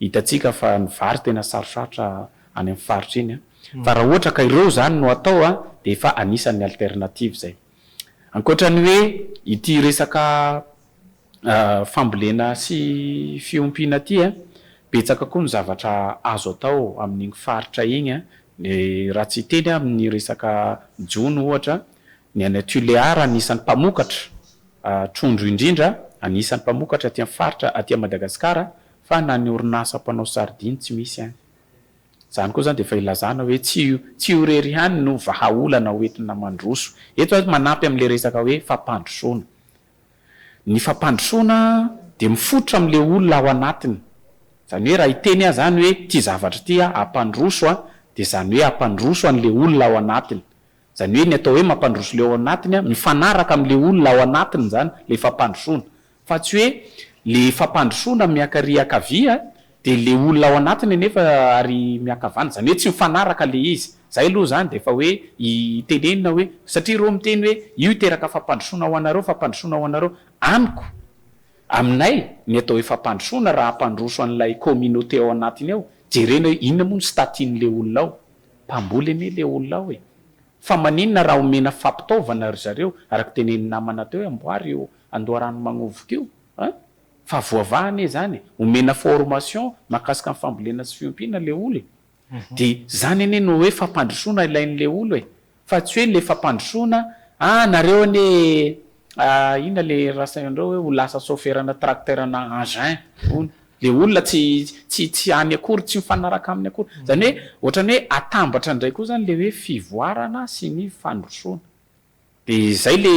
E: Hitantsika fa ny vary tena sarosarotra any amin'ny faritra iny fa raha ohatra ka ireo izany no atao dia efa anisan'ny alternative izay. Ankoatra ny hoe ity resaka fambolena sy fiompiana ity, betsaka koa ny zavatra azo atao amin'iny faritra iny raha tsy hiteny aho amin'ny resaka jono ohatra, ny any Tulear anisan'ny mpamokatra trondro indrindra, anisan'ny mpamokatra aty amin'ny faritra aty Madagasikara Fa na ny orinasa mpanao sardine tsy misy any. Izany koa izany dia efa ilazana hoe tsy io tsy io irery ihany no vahaolana hoentina mandroso eto aho manampy amin'ilay resaka hoe fampandrosoana. Ny fampandrosoana dia mifototra amin'ilay olona ao anatiny. Izany hoe raha hiteny aho izany hoe ity zavatra ity aho hampandroso an, dia izany hoe hampandroso an'ilay olona ao anatiny. Izany hoe ny atao hoe mampandroso ilay ao anatiny an, mifanaraka amin'ilay olona ao anatiny izany ilay fampandrosoana. Fa tsy hoe le fampandrosoana miaka ry akavia de le olona ao anatiny anefa ary miankavana, zany hoe tsy mifanaraka le izy, zay aloha zany de efa hoe itenenina hoe satria reo miteny hoe io hiteraka fampandrosoana ho anareo, fampandrosoana ho anareo, amiko, aminay ny atao hoe fampandrosoana raha hampandroso an'ilay communauté ao anatiny ao, jerena hoe inona moa ny statin'le olona ao, mpamboly anie le olona ao e, Fa maninona raha omena fampitaovana ry zareo araka tenenin'ny namana teo hoe amboary io andoharano magnovoko io an! Fa voavaha anie izany e! Omena formation mahakasika ny fambolena sy fiompiana le olo e! Dia izany anie no hoe fampandrosoana ilain'le olo e! Fa tsy hoe le fampandrosoana, ah nareo anie Ah ina le rasainareo hoe ho lasa soferana tracteur na engin hono le olona tsy tsy tsy any akory tsy mifanaraka aminy akory zany hoe ohatrany hoe atambatra ndray koa zany le hoe fivoarana sy ny fandrosoana de zay le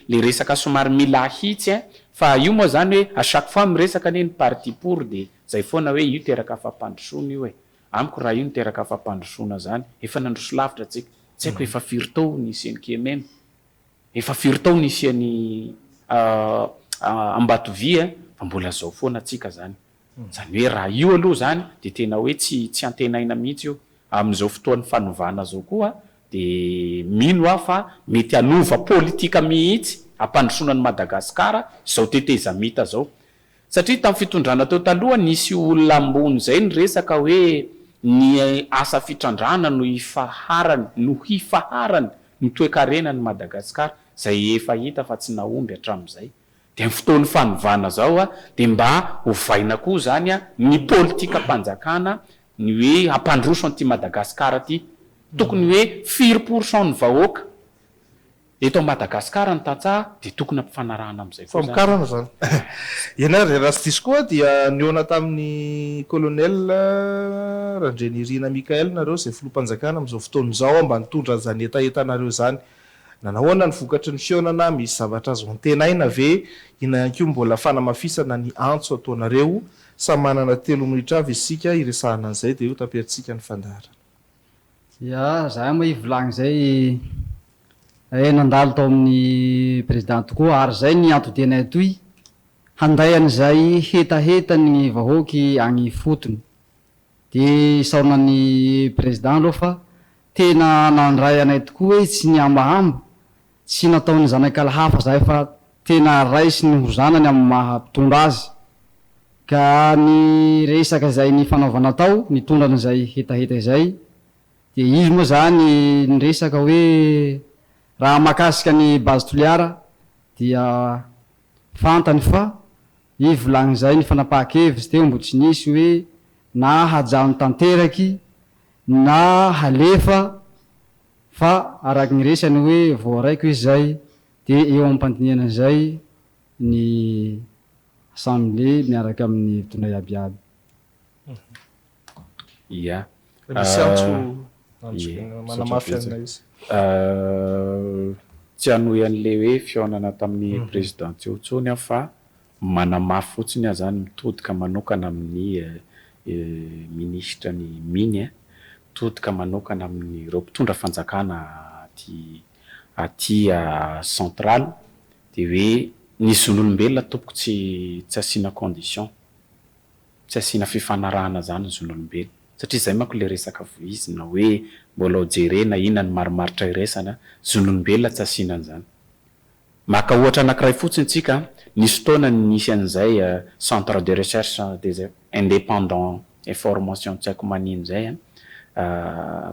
E: le resaka somary mila ahitsy eh fa io moa zany hoe à chaque fois miresaka anie ny parti pour de zay foana hoe io teraka fampandrosoana io eh amiko raha io no teraka fampandrosoana zany efa nandroso lavitra tsika tsy aiko efa firy tao nisian'i kememe Efa firy taona nisian'i Ambatovia fa mbola zao foana tsika zany. Zany hoe raha io aloha zany dia tena hoe tsy tsy antenaina mihitsy io. Amin'izao fotoan'ny fanovana zao koa dia mino aho fa mety hanova politika mihitsy hampandrosoana an'i Madagasikara zao tetezamita zao. Satria tamin'ny fitondrana teo taloha nisy olona ambony izay niresaka hoe ny asa fitrandrahana no hifaharany no hifaharany ny toekarenan'i Madagasikara izay efa hita fa tsy nahomby hatramin'izay dia amin'ny fotoan'ny fanovana izao dia mba hovaina koa izany ny politikam-panjakana ny hoe hampandroso an'ity Madagasikara ity tokony hoe firy pourcent ny vahoaka Eto Madagascar ny tantsaha dia tokony ampifanarahana amin'izay koa izany. Famokarana izany.
A: Eny ary, raha tsy diso koa dia nihaona tamin'ny Colonel Randrianirina Michael nareo izay Filoham-panjakana amin'izao fotoana izao aho mba nitondra an'izany hetahetanareo izany. Nanahoana ny vokatry ny fihaonana, misy zavatra azo antenaina ve? Inona ihany koa mbola fanamafisana ny antso ataonareo? Samy manana telo minoitra avy isika hiresahana an'izay dia io taperintsika ny fandaharana. Dia
D: za moa hivolagna izay eh nandalo tao amin'ny Président tokoa ary izay ny antodenay atoy handay an'izay hetahetan'ny vahoaky agny ifotony. Dia isaorana ny Président aloha fa tena nandray anay tokoa hoe tsy nihambahamba Tsy nataon'ny zanakala hafa izay fa tena raisiny ho zanany amin'ny maha mpitondra azy. Ka ny resaka izay nifanaovana tao nitondra an'izay hetaheta izay dia izy moa izany niresaka hoe raha mahakasika an'i Base Toliara dia fantany fa i volagny izay nifanapaha-kevitsy teo mbo tsy nisy hoe na hajano tanteraky na halefa Fa araka ny resany hoe voaraiko izy izay dia eo am-pandinihana izay ny Assemblé miaraka amin'ny mpitondra iaby iaby.
A: Ia. Misy antso manamafy an'ilay izy.
E: Tsy hanohy an'ilay hoe fihaonana tamin'ny Président teo intsony aho fa Manamafy fotsiny aho izany mitodika manokana amin'ny minisitra ny mine eh, mitodika manokana amin'ireo mpitondra fanjakana aty aty central dia hoe ny zon'olombelona tompoko tsy tsy asiana condition, tsy asiana fifanarahana izany ny zon'olombelona satria izay manko ilay resaka voizina hoe mbola ho jerena inona no marimaritra iraisana, zon'olombelona tsy asiana an'izany. Maka ohatra anankiray fotsiny tsika, nisy fotoana nisy an'izay centre de recherche des independant et formation tsy haiko manino izay an,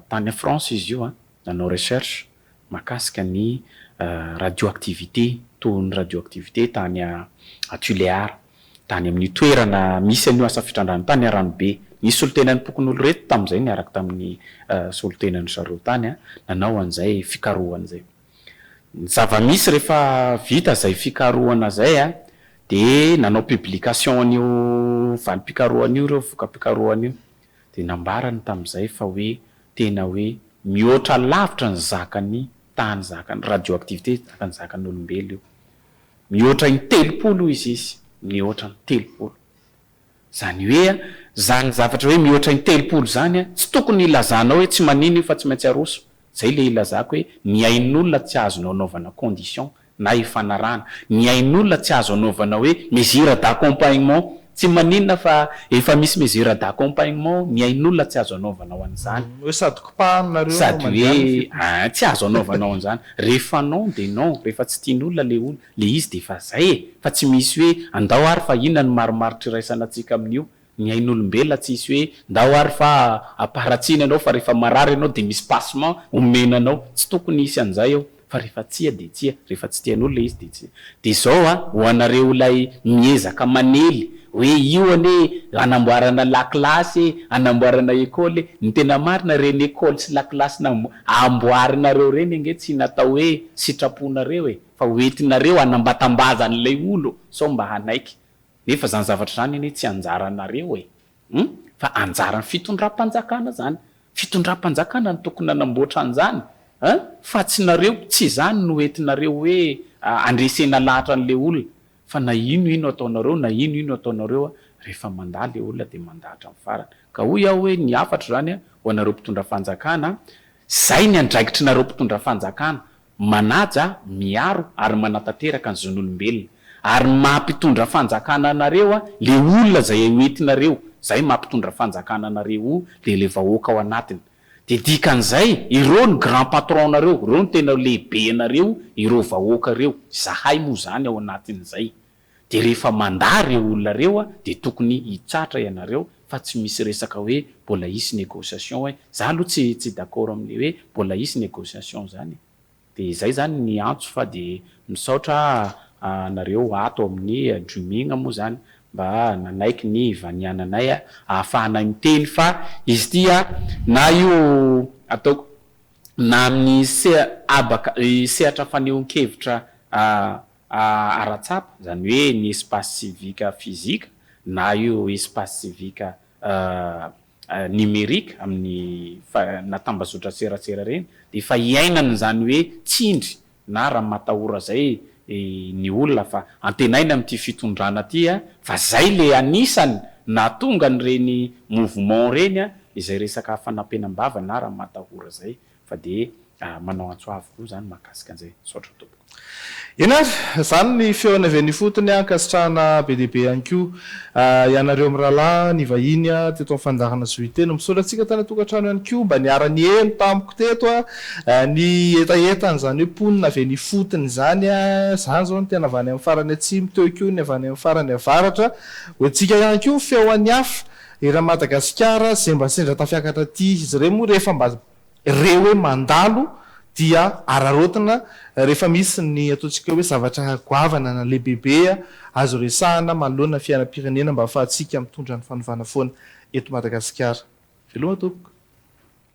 E: tany France izy io an, nanao recherche makasika ny radioactivité, tohiny ny radioactivité tany à Tuléar, tany amin'io toerana misy an'io asa fitrandrahana tany Aranobe. Nisy solontenan'ny pokonoloreto tamin'izay niaraka tamin'ny solontenan-dry zareo tany an, nanao an'izay fikarohana izay. Ny zava-misy rehefa vita izay fikarohana izay dia nanao publication an'io valim-pikarohana io ireo voka-pikarohana io dia nambarany tamin'izay fa hoe tena hoe mihoatra lavitra ny zakan'ny tany zakan'ny radioactivité zakan'ny zakan'olombelo io. Mihoatra in-telopolo hoy izy izy, mihoatra ny telopolo. Zany hoe a, zany zavatra hoe mihoatra intelopolo zany a, tsy tokony hilazanao hoe tsy manino io fa tsy maintsy aroso. Zay le ilazako hoe ny ain'olona tsy azonao anaovana condition na ifanarahana. Ny ain'olona tsy azo anaovana hoe mesure d'accompagnement. Tsy maninona fa efa misy mesure d'accompagnement, ny ain'olona tsy azo anaovana ho an'izany. Hoe sady kopahany
A: nareo no mandeha any f'io.
E: Sady hoe a, tsy azo anaovana ho an'izany. Rehefa non dia non, rehefa tsy tian'olona le olona. Le izy de efa zay e! Fa tsy misy hoe andao ary fa inona no marimaritra iraisana antsika amin'io? Ny ain'olombelona tsisy hoe ndao ary fa aparatsiana ianao fa rehefa marary ianao de misy passement omena anao. Tsy tokony hisy an'zay eo fa rehefa tsia de tsia, rehefa tsy tian'olo le izy de tsy. De zao a, ho anareo ilay miezaka manely hoe io anie anamboarana lakilasy e, anamboarana école e, ny tena marina reny école sy lakilasy nambo amboarinareo reny ange tsy natao hoe sitraponareo e! fa ho entinareo hanambatambaza an'ilay olo sao mba hanaiky, nefa izany zavatra izany anie tsy anjaranareo e! Hum! Fa anjaran'ny fitondram-panjakana izany, fitondram-panjakana no tokony nanamboatra an'izany a! Fa tsy nareo, tsy izany no entinareo hoe handresena lahatra an'ilay olona, fa na ino ino ataonareo, na ino ino ataonareo a, rehefa mandà ilay olona dia mandà hatramin'ny farany. Ka hoy aho hoe ny hafatra izany ho anareo mpitondra fanjakana a, izay ny andraikitrinareo mpitondra fanjakana, manaja, miaro ary manatanteraka ny zon'olombelona, ary ny maha mpitondra fanjakana anareo a le olona zay ho entinareo, zay maha mpitondra fanjakana anareo io dia le vahoaka ao anatiny, dia dikan'izay ireo no grand patron nareo, ireo no tena lehibe anareo ireo vahoaka ireo, izahay moa izany ao anatin'izay. Dia rehefa mandà ireo olona ireo dia tokony hitratra ianareo fa tsy misy resaka hoe mbola hisy négociation hoe, za aloha tsy tsy d'accord amin'le hoe mbola hisy négociation zany e! Dia izay zany ny antso fa dia misaotra anareo ato amin'ny Dreaming moa zany mba nanaiky ny hivaniananay ahafahanay miteny fa izy ity na io ataoko na amin'ny seha habaka sehatra fanehoan-kevitra ara-tsapa, izany hoe ny espace civique physique na io espace civique numérique amin'ny na tambazotra serasera ireny dia efa iainana izany hoe tsindry na raha matahora izay ny olona fa antenaina amin'ity fitondrana ity fa izay ilay anisany nahatonga an'ireny mouvement ireny izay resaka fanampenam-bava na raha matahora izay Fa dia manao antso avo koa izany mahakasika an'izay. Misaotra tompoko. Eny ary,
A: izany ny feony avy any ifotony, ankasitrahana be dia be ihany koa ianareo mirahalahy nivahiny teto amin'ny fandaharana Zohiteny. Misaotra antsika tany an-tokantrano ihany koa mba niara-niheno tamiko teto ny hetaheta an'izany hoe mponina avy any ifotony izany. Izany izao ny tena avy any amin'ny farany atsimo, teo koa ny avy any amin'ny farany avaratra. Hoentintsika ihany koa ny feo an'i Hafa. Eran'i Madagasikara izay mba sendra tafiakatra aty izy ireny moa rehefa mba re hoe mandalo dia araraotina rehefa misy ny ataontsika hoe zavatra goavana na lehibebe azo resahana manoloana ny fiainam-pirenena mba ahafahantsika mitondra ny fanovana foana eto Madagasikara. Veloma tompoko.